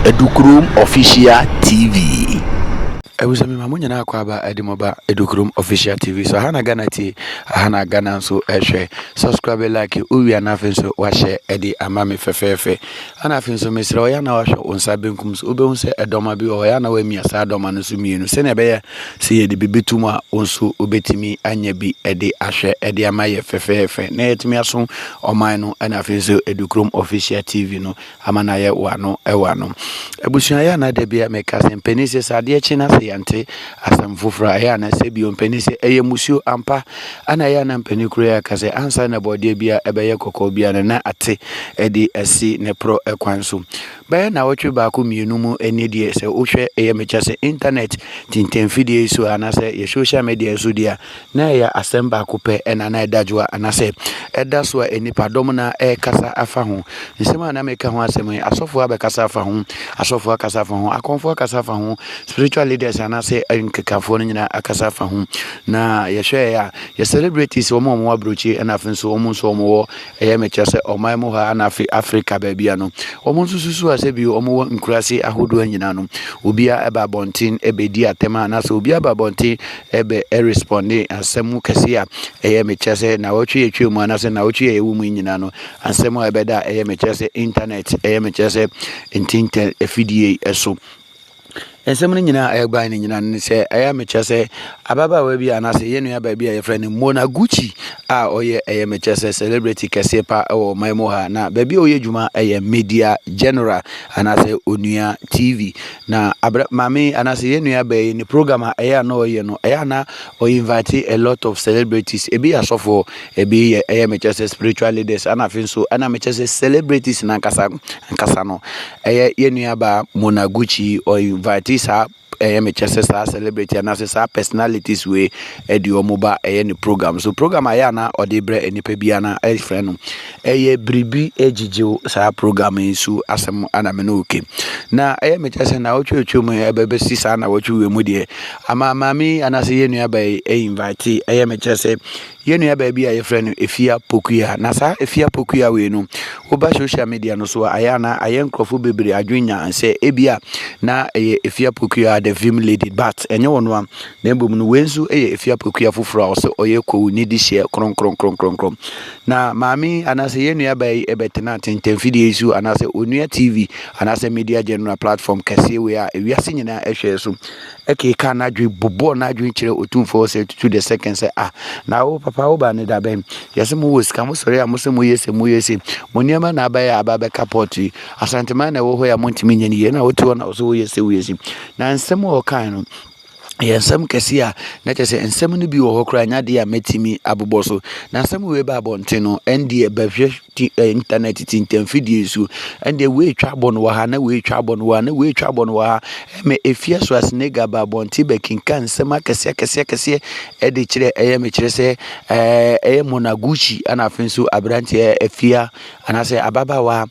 Edukurom Official TV. Ebusua mi ma mo nyinaa kɔ aba ɛde mo ba Edukurom Official TV so aha na Ghana tie aha na Ghana nso ɛhwɛ subscribe like owia na afei nso wahyɛ ɛde ama me fɛfɛɛfɛ ɛna afei nso mesrɛ ɔyɛ na wahwɛ wo nsa benkum so wobɛhu sɛ ɛdɔma bi wɔ hɔ yɛ na wamia saa dɔma no nso mmienu sɛnea ɛbɛyɛ Sɛ yɛde biribi to mu a, wo nso wobɛtumi anya bi de ahwɛ de ama yɛ fɛfɛɛfɛ na yɛatumi aso ɔman no na afei nso Edukurom Official TV no ama no ayɛ wano wano. Abusua yɛ ana da bia meka sɛ mpanin sɛ sɛ adeɛ kye na sɛ yɛnte asɛm foforɔ a ɛyɛ ana sɛ bio mpanin sɛ ɛyɛ musuo ampa ana ɛyɛ ana mpanin kuro yɛ aka sɛ ansa na bɔdeɛ bia ɛbɛyɛ kɔkɔɔ bia no na ate ɛde asi ne porɔ ɛkwan so Bɛyɛ nnawɔtwe baako mmienu mu nie deɛ sɛ wohwɛ ɛyɛ mekyɛ sɛ internet tintanfidie yi so a anaasɛ yɛ social media yi so deɛ a na ɛyɛ asɛm baako pɛ ɛna na ɛda dwo a anaasɛ ɛda so a nnipa dɔm na ɛkasa afa ho nsɛm a na meka ho asɛm yi asɔfoɔ abɛkasa afa ho asɔfoɔ akasa afa ho akɔnfoɔ akasa afa ho spiritual leaders anaasɛ nkekafoɔ no nyinaa akasa afa ho na yɛhwɛ a yɛ celebrities wɔn a wɔn aburokyi ɛna afei nso wɔn nso wɔn wɔ Ɛyɛ me kyɛ sɛ ɔman mu ha ana afei Afrika baabi a no, wɔn nso susu a sɛ bi wɔn wɔ nkuraase ahodoɔ nyinaa no, obiara ɛba abɔnten ɛbɛdi atɛm a anaasɛ obiara ba abɔnten ɛbɛ ɛrespɔnde asɛm mu kɛse a ɛyɛ me kyɛ sɛ na wɔtwe yɛtwa mu anaasɛ na wɔtwe yɛyɛ wɔ mu nyinaa no, asɛm a ɛbɛda a ɛyɛ me kyɛ sɛ intanɛt ɛyɛ me kyɛ sɛ ntintɛ afidie ɛso. Nsɛm no nyinaa a ɛbae no nyinaa ne sɛ ɛyɛ a mekyerɛ sɛ ababaawa bi anaasɛ yɛn nua baa bi a yɛfrɛ no Mona Gucci a ɔyɛ ɛyɛ mekyerɛ sɛ celebrity kɛseɛ pa wɔ ɔman mu ha na baabi a ɔyɛ adwuma ɛyɛ media general anaasɛ onua TV na abra maame anaasɛ yɛn nua baa yi ne program a ɛyɛ a na ɔyɛ no ɛyɛ a na ɔyɛ invite a lot of celebrities ebi yɛ asɔfoɔ ebi yɛ ɛyɛ mekyerɛ sɛ spiritual leaders ana afei nso ɛna mekyerɛ sɛ celebrities nankasa nkasa no ɛyɛ yɛn nuabaa Monaguchi ɔ invite saa ɛyɛ mekyɛ sɛ saa celebrity anaasɛ saa personalities wei ɛde wɔn ba ɛyɛ ne program so program ayɛ ana ɔde brɛ nipa bi ana ɛfrɛ no ɛyɛ biribi ɛgyigyew saa program yi so asɛm ana me no oke na ɛyɛ mekyɛ sɛ na wɔtwe otwe mu ɛbɛbɛsi saa na wɔtwe wɔ mu deɛ ama maame anaasɛ yɛn nuabaa yi ɛyɛ invite ɛyɛ mekyɛ sɛ Yɛn nuabaa bi a yɛfrɛ no Efia Pokuya. Na saa Efia Pokuya wei no, woba social media no so a, ayɛ a na ayɛ nkurɔfo bebree adwene nya sɛ ebi a na ɛyɛ Efia Pokuya the Vim Lady, but ɛnyɛ ɔno a, na mbom no wei nso yɛ Efia Pokuya foforɔ a ɔsɛ ɔyɛ kowu ne di hyeɛ kronkronkronkron. Na maame yi anaasɛ yɛn nuabaa yi ɛbɛtena tentanfidie yi so anaasɛ Onua TV anaasɛ Media General platform kɛseɛ wei a ewiase nyinaa ɛhwɛɛ so kekaa n'adwene bobɔɔ n'adwene kyerɛ otumfoɔ hɔ sɛ tutu the second sɛ ah na wo papa wo ba ne da bɛn yɛsɛ mo wɔ sika mo sɔre a mo sɛ mo yɛ sɛ mo yɛ sɛ mo nneɛma na aba yɛ aba bɛka pɔt yi asanteman na ɛwɔ hɔ yɛ a montumi nyɛ ne yie na wote hɔ na ɔsɛ woyɛ sɛ woyɛ si na nsɛm a ɔkae no yɛ nsɛm kɛse a na kyerɛ sɛ nsɛm no bi wɔ hɔ koraa nyɛ adeɛ a mɛtumi abobɔ so na nsɛm wei ba abɔnten no ɛndeɛ bɛhwɛ ti ɛ intanɛt ti ntɛmfidie so ɛndeɛ wei atwa abɔ no wɔ ha na wei atwa abɔ no wɔ ha na wei atwa abɔ no wɔ ha ɛmɛ efia so asenega ba abɔnten bɛkenka nsɛm akɛseɛ akɛseɛ akɛseɛ ɛde kyerɛ ɛyɛ mekyerɛ sɛ ɛɛ ɛyɛ monaguchi ɛna afei nso aberanteɛ efia anaasɛ ababaawa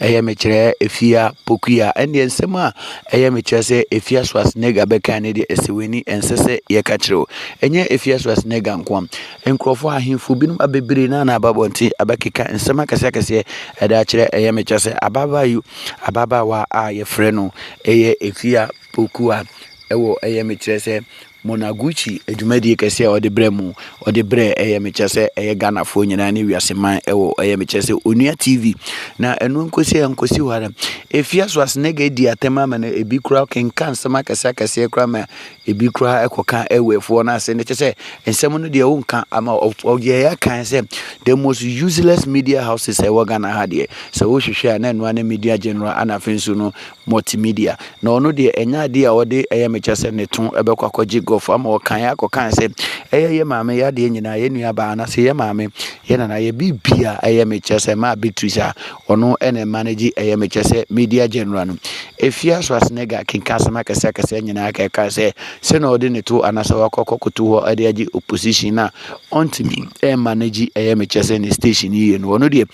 ɛyɛ mekyerɛ efia pokuya ɛndeɛ nsɛm a ɛyɛ mekyerɛ sɛ efia so asenega bɛka ne deɛ ɛsɛ w'ani ɛnsɛ sɛ yɛka kyerɛw ɛnyɛ efia so asenega nkoa Nkurɔfoɔ ahemfo binom abebree na na aba abɔnten abɛkeka nsɛm akɛseakɛseɛ ɛde akyerɛ ɛyɛ me kyɛ sɛ ababaa yi ababaawa a yɛfrɛ no ɛyɛ Efia Pokua ɛwɔ ɛyɛ me kyerɛ sɛ Monaguchi adwumadie kɛseɛ a ɔde brɛ mu ɔde brɛ ɛyɛ me kyɛ sɛ ɛyɛ Ghanafoɔ nyinaa ne wiase man ɛwɔ ɛyɛ me kyɛ sɛ Onua TV na ɛno nkosi a nkosi hɔ ara Efia so asenega adi atɛm ama no ebi koraa kenka nsɛm akɛseakɛseɛ koraa ma Ebi koraa kɔka Ewɛfoɔ no ase no, kyɛ sɛ nsɛm no deɛ wonka ama ɔyɛ yɛ kan sɛ the most useless media houses a ɛwɔ Ghana ha deɛ sɛ wohwehwɛ a na ɛnoa ne media general ana afei nso no multimedia na ɔno deɛ ɛnyɛ adeɛ a ɔde ɛyɛ mekyɛ sɛ ne to ɛbɛkɔ akɔgye gɔfo ama ɔkan yɛ akɔkan sɛ ɛyɛ yɛ maame yɛ adeɛ nyinaa yɛ nua baa anasɛ yɛ maame yɛ nana yɛ biribi a ɛyɛ mekyɛ sɛ maa Beatrice a Ɔno na ɛma no gye ɛyɛ me kyɛ sɛ Media General no. Efia Schwarzenegger kenka asɛm akɛse akɛse nyinaa ka ɛka sɛ sɛ na ɔde ne to anaasɛ wakɔ akɔ koto hɔ de agye opposition na ɔntumi ɛma no gye ɛyɛ me kyɛ sɛ ne station yie no ɔno deɛ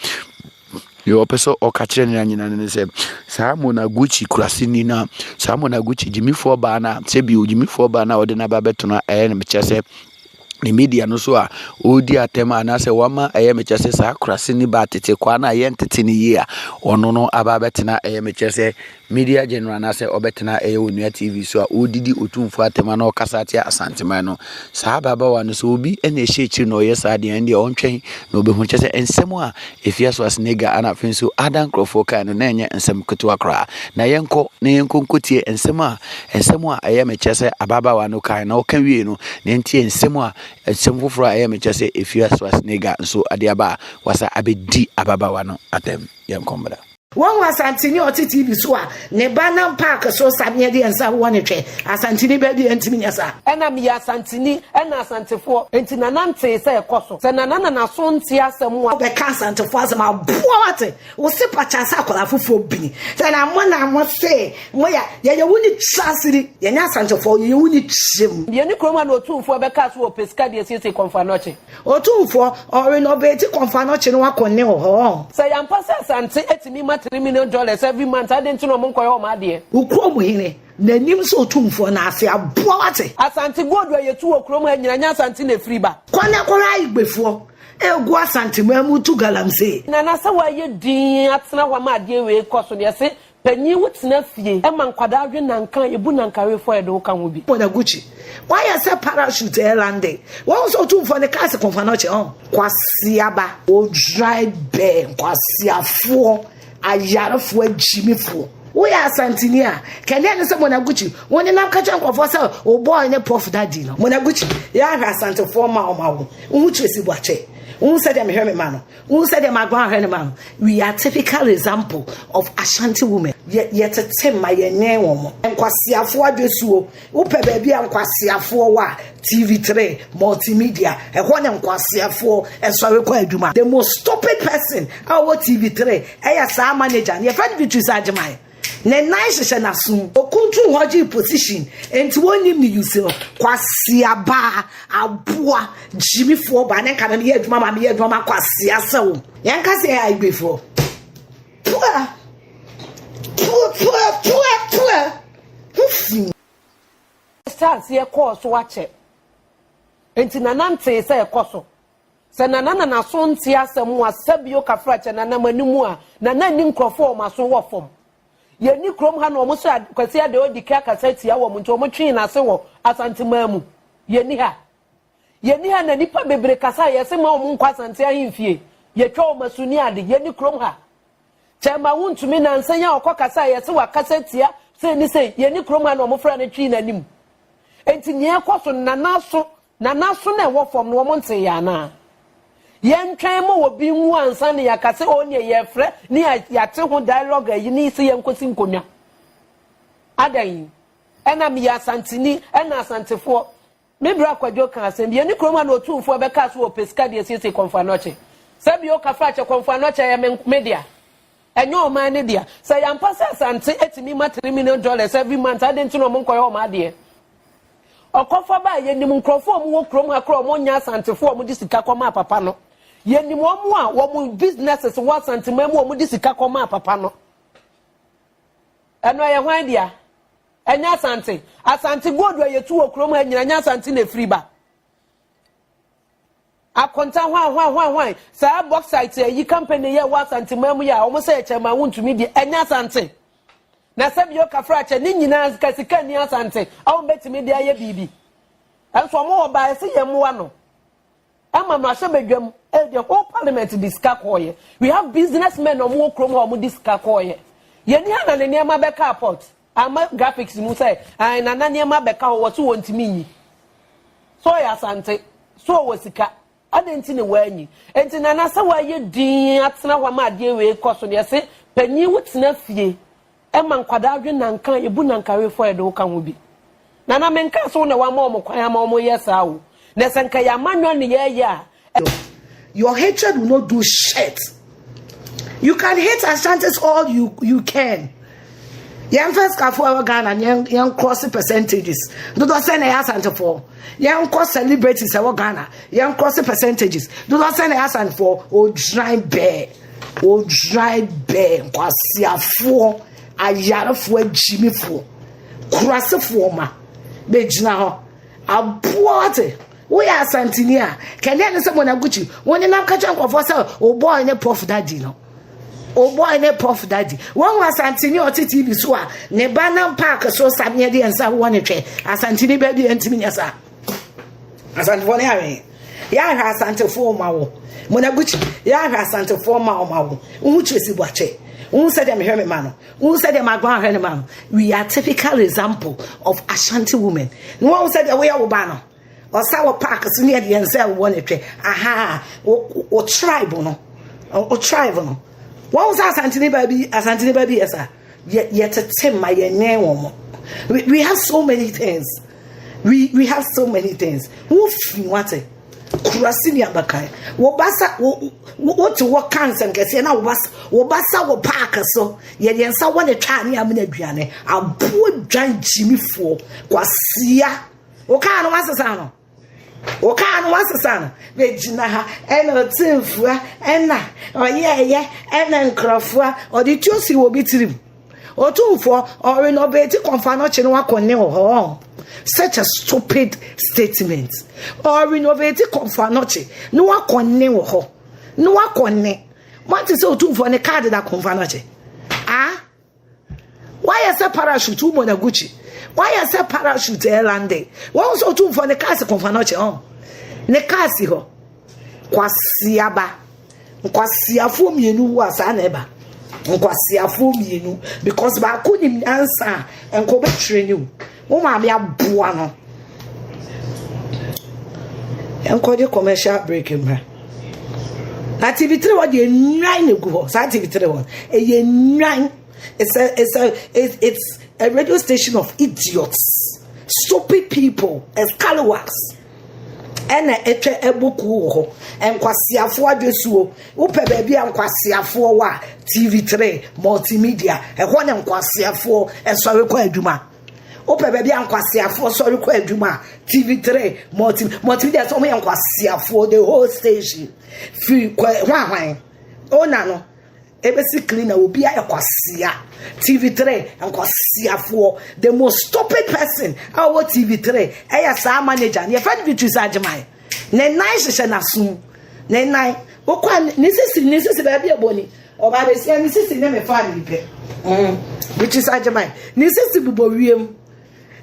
deɛ ɔpɛ sɛ ɔka kyerɛ ne anyina no ne sɛ saa Monaguchi kuraseni no saa Monaguchi gyimifoɔ baa no a sɛ bio gyimifoɔ baa no a ɔde no aba bɛtena ɛyɛ no mekyɛ sɛ ne media no so a ɔredi atɛm anaasɛ wama ɛyɛ mekyɛ sɛ saa kurase ne ba tete kwaa no a yɛntete no yie a ɔno no aba abɛtena ɛyɛ mekyɛ sɛ media general anaasɛ ɔbɛtena ɛyɛ onua tv so a ɔredidi otumfoɔ atɛm ana ɔkasa atia asanteman no saa ababaawa no sɛ obi na ɛhyɛ akyiri na ɔyɛ saa deɛ ɛndeɛ ɔntwɛn na ɔbɛhu kyɛ sɛ nsɛm a Efie Schwarzenegger a na afei nso ada nkurɔfoɔ kan no na ɛnyɛ nsɛm ketewa koraa. Na yɛnkɔ na yɛnkɔ nkɔtie nsɛm a nsɛm a ɛyɛ mekyɛ sɛ ababaawa no kan na ɔka wie no na yɛntie nsɛm a nsɛm foforɔ a ɛyɛ mekyɛ sɛ Efie Schwarzenegger nso ade aba a wasa abɛdi ababaawa no atɛm. Yɛnkɔ mmra. Wahu Asanteni a ɔte TV so a ne ba nam paake so sa ne ɛdeɛ nsa wɔ ne twɛ. Asanteni bɛ deɛ ntumi nyɛ saa. Ɛna meyɛ Asanteni, ɛna Asantefoɔ. Enti Nana ntee sɛ ɛkɔ so. Sɛ Nana na n'aso nte asɛm a. Wobɛka Asantefoɔ asɛm a, aboa wo ate. Wo se pakyɛ sɛ akwadaa foforɔ bini. Sɛ na mo na mo se mo yɛ, yɛyɛ wo ni kyerɛ ase ni. Yɛnyɛ Asantefoɔ, yɛyɛ wo ni kyerɛ mu. Yɛne kurom a na Otumfoɔ bɛkaa so wɔ Pesika deɛ siesie Kɔmfoanoɔkye. Otumfoɔ, ɔwe na ɔbɛɛti kɔnfa no kye no akɔ nne wɔ hɔ ɔɔ. Sɛ yɛ ampa sɛ asante atumi ma three million dollars every month adɛn nti na ɔmo nkɔyɛ ɔmo adeɛ. Wo kurom hene na nim sɛ otumfoɔ no ase aboa wate. Asante gold a yɛtu wɔ kurom ha nyina nyɛ asante na ɛfiri ba. Kɔ na kɔ hwɛ igbefoɔ ɛgu asante mu ɛmu tu galamsee. Nana sɛ wayɛ din atena hɔ ama adeɛ wei kɔ so deɛ se Panyin wo tena fie ma nkwadaa we nanka ebu nanka we fɔ ɛde wo ka ho bi. Bɔda Gucci wayɛ sɛ parachute ɛyɛ lande wahu sɛ otumfoɔ ne kaa se kɔnfa no ɔkyɛ ɔn. Kwasiaba odwran bɛɛ nkwasiafoɔ ayarefoɔ agyimifoɔ. Woyɛ asantini a kɛnɛ ɛne sɛ Mona Gucci wo nenam ka kyerɛ nkurɔfoɔ sɛ wo boy ne puff daddy no. Mona Gucci yɛ ahwɛ asantefoɔ ma ɔma wo wo ho kyerɛ si boakyɛ wo hu sɛdeɛ mehwɛ me ma no. Wohu sɛdeɛ maguan ahwɛ ne ma no? We are typical example of Ashanti women. Yɛ yɛtete mma yɛnyɛn wɔn. Nkwaseafoɔ adwesuo. Wopɛ baabi a nkwaseafoɔ wɔ a, TV3, multimedia. Ɛhɔ na nkwaseafoɔ ɛsɔre kɔ adwuma. The most stupid person a ɔwɔ TV3 ɛyɛ saa manager no, yɛfrɛ no Beatrice Agyeman. Ne nan hyehyɛ n'asom. Okuntun hɔ gye position. Enti wɔnnim ne use no. Kwasea ba, aboa, gyimifoɔ ba. Ne nka no meyɛ adwuma ma meyɛ adwuma ma kwasea sɛ wo. Yɛn ka sɛ yɛ Igbefoɔ. Pua! Pua, pua, pua, pua! Ho fi. Hyɛ aseɛ kɔɔ so akyɛ. Enti nanantee sɛ ɛkɔ so. Sɛ Nana na n'aso nte asɛm ho a, sɛ bio kafra kyɛ Nana m'anim a, Nana nni nkurɔfoɔ a wɔn aso wɔ fam. Yɛnni kurom ha na wɔn sɛ Kwasi Adeh ɔdi ka kasa tia wɔn nti wɔn twee n'ase wɔ Asanteman mu. Yɛnni ha. Yɛnni ha na nnipa bebree kasa a yɛse mma wɔn nkɔ Asante ahemfie. Yɛtwa wɔn asu ne ade. Yɛnni kurom ha. Kyɛmba wontumi nansa yi a ɔkɔ kasa a yɛse wakasa tia sei ne sei. Yɛnni kurom ha na wɔn fra no twee n'anim. Enti nea ɛkɔ so no Nana aso Na n'aso na ɛwɔ fam no wɔn ntee yɛ anaa? Yɛntwɛn ma obi nwu ansa na yɛaka sɛ oo neɛ yɛrefrɛ ne yɛate ho dialogue ayi ne sɛ yɛnkɔsi nkonnwa. Adɛn? Ɛna meyɛ Asanteni, ɛna Asantefoɔ. Me bra Kwadwo kaa asɛm bi, yɛne kurom a na Otumfoɔ bɛkaa so wɔ Ɔpɛsika de asiesie Kɔmfo Anɔkye. Sɛ bio Kafrakyɛ Kɔmfo Anɔkye yɛ me dea. Ɛnyɛ ɔman no dea. Sɛ ɛyɛ ampa sɛ Asante atumi ma three million dollars every month a, adɛn nti na wɔnkɔyɛ wɔn adeɛ? Ɔkɔfa baa yɛnim nkurɔfoɔ a wɔwɔ kurom ha koraa a wɔnyɛ Asantefoɔ a wɔde sika kɔmaa papa no. Yɛnim wɔn a wɔn businesses wɔ Asanteman mu a wɔde sika kɔmaa papa no. Ɛno ɛyɛ hwan dea? Ɛnyɛ Asante. Asante gold a yɛtu wɔ kurom ha nyina nyɛ Asante na ɛfiri ba. Akonta hwan hwan hwan hwan saa bauxite ayi company yɛ wɔ asante man mu yɛ a wɔn sɛ yɛ kyɛn ma wontumi deɛ ɛnyɛ asante na sɛ bio kafra kyɛ ne nyinaa sika sika ni asante a wɔn bɛtumi de ayɛ biribi ɛnso wɔn wɔ baa ɛsɛ yɛn mmoa no ɛma no ahyɛ badwam ɛyɛ the whole parliament de sika kɔɔyɛ we have business men wɔn wɔ kurom hɔ wɔn de sika kɔɔyɛ yɛn ni ha na ne nneɛma bɛka apɔt. Ama graphics mu sɛ ae nana nneɛma bɛka hɔ wɔse wɔntumi nyi so ɔyɛ asante so ɔwɔ sika adɛn nti ne wɔanyi nti nana sɛ wɔayɛ din atena hɔ ama adeɛ wei kɔ so deɛ se panyin wo tena fie ɛma nkwadaa dwe nanka ebu nanka refɔ ɛde wo ka ho bi Nana menkaa sɛ wo na woama wɔn kwan ama wɔyɛ saa o, na sɛ nka yɛama nnwa ne yɛɛyɛ a, Your hatred will not do shit. You can hate Ashantis all you you can. Yɛn first kafo ɛwɔ Ghana yɛn yɛn cross percentages. Dodo sɛ na yɛ Asantefo. Yɛn kɔ celebrities ɛwɔ Ghana yɛn cross percentages. Dodo sɛ na yɛ Asantefo. Odwan bɛɛ odwan bɛɛ nkwasiafoɔ ayarefoɔ agyimifoɔ. Kurasefoɔ ma bɛgyina hɔ aboa wate woyɛ asantini a kɛdeɛ ne sɛ mɔnagukyi wonenam ka kyerɛ nkɔfoɔ sɛ wobɔe ne pɔf dadi no wobɔe ne pɔf dadi wɔhu asantini a ɔte tv so a ne ba nam paake so sameɛ deɛ nsa wowɔ ne twɛ asantini baabi ɛntimi nyɛ saa asantefoɔ ne awɛn yɛahwɛ asantefoɔ ma wo mɔnagukyi yɛahwɛ asantefoɔ ma wo ma wo wohu kyerɛ si boakyɛ wohu sɛdeɛ mehwɛ me ma no Wohu sɛdeɛ maguan ahwɛ ne ma no? We are typical example of Ashanti women. Na wɔn sɛdeɛ woyɛ wo ba no, ɔsa wɔ park so ne ɛdeɛ nsɛ wɔ ne twɛ. Aha, wo tribe no, wo tribe no. Wɔn sɛ Asantini ba bi, Asantini ba bi yɛ sa. Yɛtete ma yɛnyɛn wɔn. We have so many things. We we have so many things. Wofi wate. Kurase ni abakan. Wo ba sa wo wo te hɔ ka nsɛnkɛseɛ na wo ba wo ba sa wɔ paake so yɛ yɛn nsa wɔ ne twa ne amena aduane aboɔ dwan gyimifoɔ kwasia wo kaa no wasesa no wo kaa no wasesa no bɛgyina ha ɛna ɔtemfua ɛna ɔyɛɛyɛ ɛna nkurɔfoɔ ɔde tuo si wɔ bi tirim Otumfoɔ, ɔre na ɔbɛti kɔnfa no kye no akɔ ne hɔ. Such a stupid statement. Ɔre na ɔbɛti kɔnfa no kye no akɔ ne hɔ. No akɔ ne. What is Otumfoɔ ne card da kɔnfa no kye? Ah? Why is a parachute Umonaguchi? Why is a parachute Erlande? Why is Otumfoɔ ne card kɔnfa no kye? Oh. Ne card si hɔ. Kwasiaba. Nkwaseafoɔ mmienu wu a saa na ɛba nkwaseafoɔ mmienu because baako nim nyansa a nka ɔbɛtwerɛ ne o wo maame aboa no ɛnkɔgye commercial break mmra na tv tiri hɔ deɛ nnwan na egu hɔ saa tv tiri hɔ ɛyɛ nnwan it's a it's a it's a radio station of idiots stupid people scallywags. ɛna atwa abuku wɔ hɔ nkwaseafoɔ adwesuo wopɛ baabi a nkwaseafoɔ wɔ a tv3 multimedia ɛhɔ na nkwaseafoɔ ɛsɔre kɔ adwuma wopɛ baabi a nkwaseafoɔ sɔre kɔ adwuma a tv3 multi multimedia sɛ wɔyɛ nkwaseafoɔ the whole station firi kɔ hwanhwan ona no ebesi clean na obi ayɛ kwasia tv three nkwasiafoɔ the most stupid person a ɔwɔ tv three ɛyɛ saa manager ne yɛfɛ beatrice agyeman ne nan hyehyɛ n'asom ne nan wokɔ ne sisi ne sisi baabi ɛbɔ ni ɔbaa bɛsia ne sisi ne me fa ne pɛ beatrice agyeman ne sisi bobɔ wiem.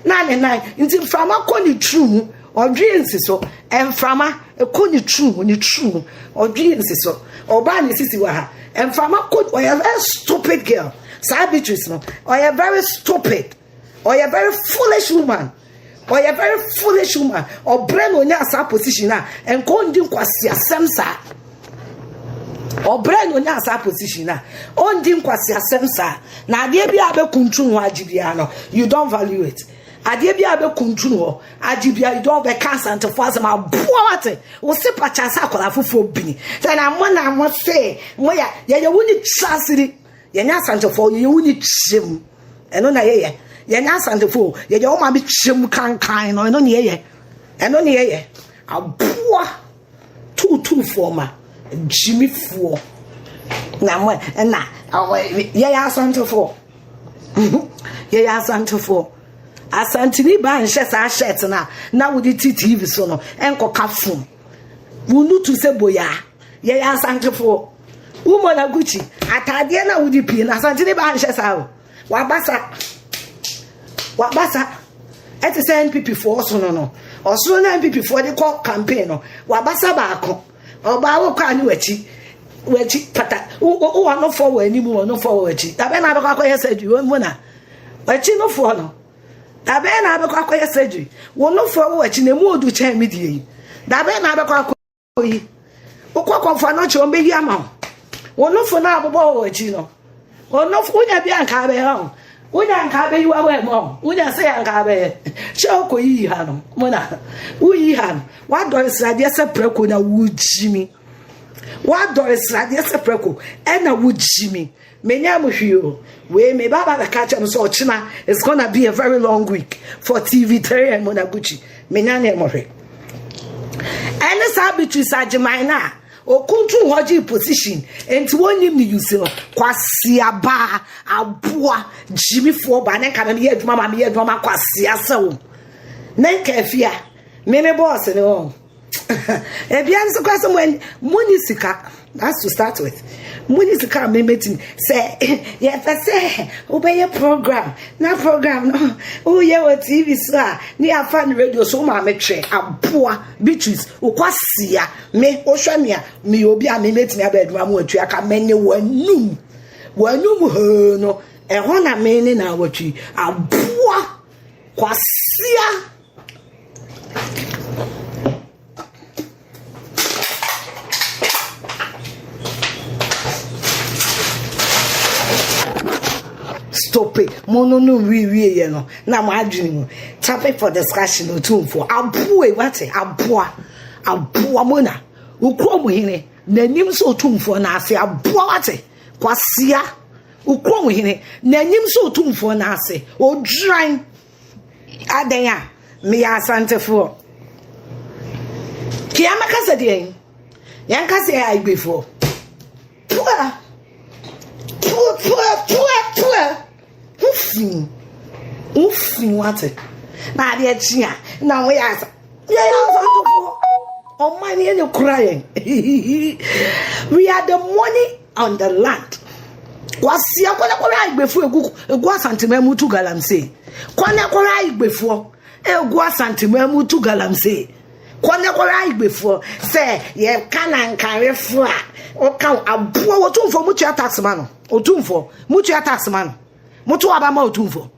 na ne nan nti mframa kɔ ne tiri mu ɔdwee nsi so mframa kɔ ne tiri mu ne tiri mu ɔdwee nsi so ɔbaa ne sisi wɔ ha mframa kɔ ɔyɛ very stupid girl saa beatrice no ɔyɛ very stupid ɔyɛ very foolish woman ɔyɛ very foolish woman ɔbrɛ na onya saa position a nkɔndi nkwasi asɛm saa. ɔbrɛ na onyaa saa position a ɔndi nkwaseasɛm saa na adeɛ bi a bɛkuntun hɔ agye biara no you don't value it adeɛ bi a bɛkuntun hɔ agye biara you don't bɛka asantefo asɛm aboa wate wo se pakya sɛ akwadaa foforɔ bini sɛ na mo na mo se mo yɛ yɛyɛ wo ne tra siri yɛnyɛ asantefo yɛyɛ wo ne kyerɛm ɛno na yɛyɛ yɛnyɛ asantefo yɛyɛ wo ma me kyerɛm kankan no ɛno ne yɛyɛ ɛno ne yɛyɛ aboa Tuutuufoɔ ma gyimifoɔ na mo ɛna yɛyɛ asantefoɔ yɛyɛ asantefoɔ asanteni baa nhyɛ saa shirt no a na wode ti tv so no ɛnkɔka fom wonutu sɛ boyaa yɛyɛ asantefoɔ womɔ na gucci ataadeɛ no a wode pie no asanteni baa nhyɛ saa o wabasa wabasa ɛte sɛ npp foɔ ɔsono no ɔsono na npp foɔ de kɔ campaign no wabasa baako ɔbaa wɔ kɔ a ne wakyi wakyi pata wowɔ no foɔ wɔ anim wɔ no foɔ wɔ wakyi abɛn na abɛkɔ akɔyɛ sɛ adwi wɔn mu na wakyi no foɔ no abɛn na abɛkɔ akɔyɛ sɛ adwi wɔn no foɔ wɔ wakyi na emu odu kyɛn mi die yi abɛn na abɛkɔ akɔ. yi wokɔ kɔmfa no kyerɛ ɔmbɛyi ama wo wo nofo no a bobɔ wɔ akyi no ɔnofo wonya bi anka bɛyɛ wo wonya anka bɛyi wa wɔ ma wo wonya sɛ anka bɛyɛ kyɛ wokɔ yiyi ha no mona woyi ha no woadɔre sradeɛ sɛ prɛko na wogyimi woadɔre sradeɛ sɛ prɛko ɛna wogyimi Menyaa mu hwee o. Wei me ba ba bɛka kyerɛ me sɛ ɔkyena it's gonna be a very long week for TV3 and Monaguchi. Menya ne mo hwɛ. Ɛne saa Beatrice Agyeman no a okuntu hɔ gye position nti wɔnyim ne yusi no kwasia baa aboa gyimifoɔ baa ne nka no yɛ adwuma ma meyɛ adwuma ma kwasia sɛ wo ne nka afia me me bɔɔse ne wɔn ebia nso kora sɛ monni sika that's to start with monni sika a mɛmɛtumi sɛ yɛpɛ sɛ wobɛyɛ program na program no woyɛ wɔ tv so a ne yɛafa no radio so ma metwɛ aboa beatrice wokwasia me wohwɛ me a meyɛ obi a memɛtumi aba adwuma mu atua ka mɛne w'anum w'anum hoo no ɛhɔ na me ne na awɔtwi aboa kwasia stop it mo no no wiewie yɛ no na mo adwene mu topic for discussion otumfoɔ aboa wate aboa aboa mo na wokura mo hene n'anim sɛ otumfoɔ na ase aboa wate kwasia wokura mo hene n'anim sɛ otumfoɔ na ase odwan Adɛn a meyɛ Asantefoɔ. Kea mɛka sɛ deɛn? Yɛnka sɛ yɛ Igbefoɔ. Pua! Pua! Pua! Pua! Pua! Ho fi mu. Ho fi mu ate. Na adeɛ kye a na wɔyɛ asa. Yɛyɛ Asantefoɔ. Ɔman yɛ ne kura yɛn. We are the money. on the land wasia kɔ na kɔhwɛ aigbefoɔ egu egu asanteman mu tu galamsey kɔ na kɔhwɛ aigbefoɔ egu asanteman mu tu galamsey kɔ na kɔhwɛ aigbefoɔ sɛ yɛka nankarefoɔ a ɔka aboa wɔtumfoɔ mutua tax ma no ɔtumfoɔ mutua tax ma no moto aba ma ɔtumfoɔ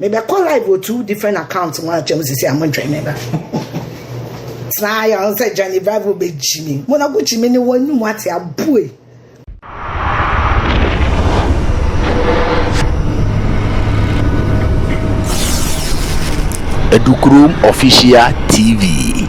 Mebɛkɔ live wɔ two different accounts mu akyɛ mu sisi a mo ntwɛn me ba. Saa yɛ ɔn sɛ Johnny Bravo bɛ gyi mi. Mo na ko gyi mi ne wɔn anum ate abue. Edukurom Official TV.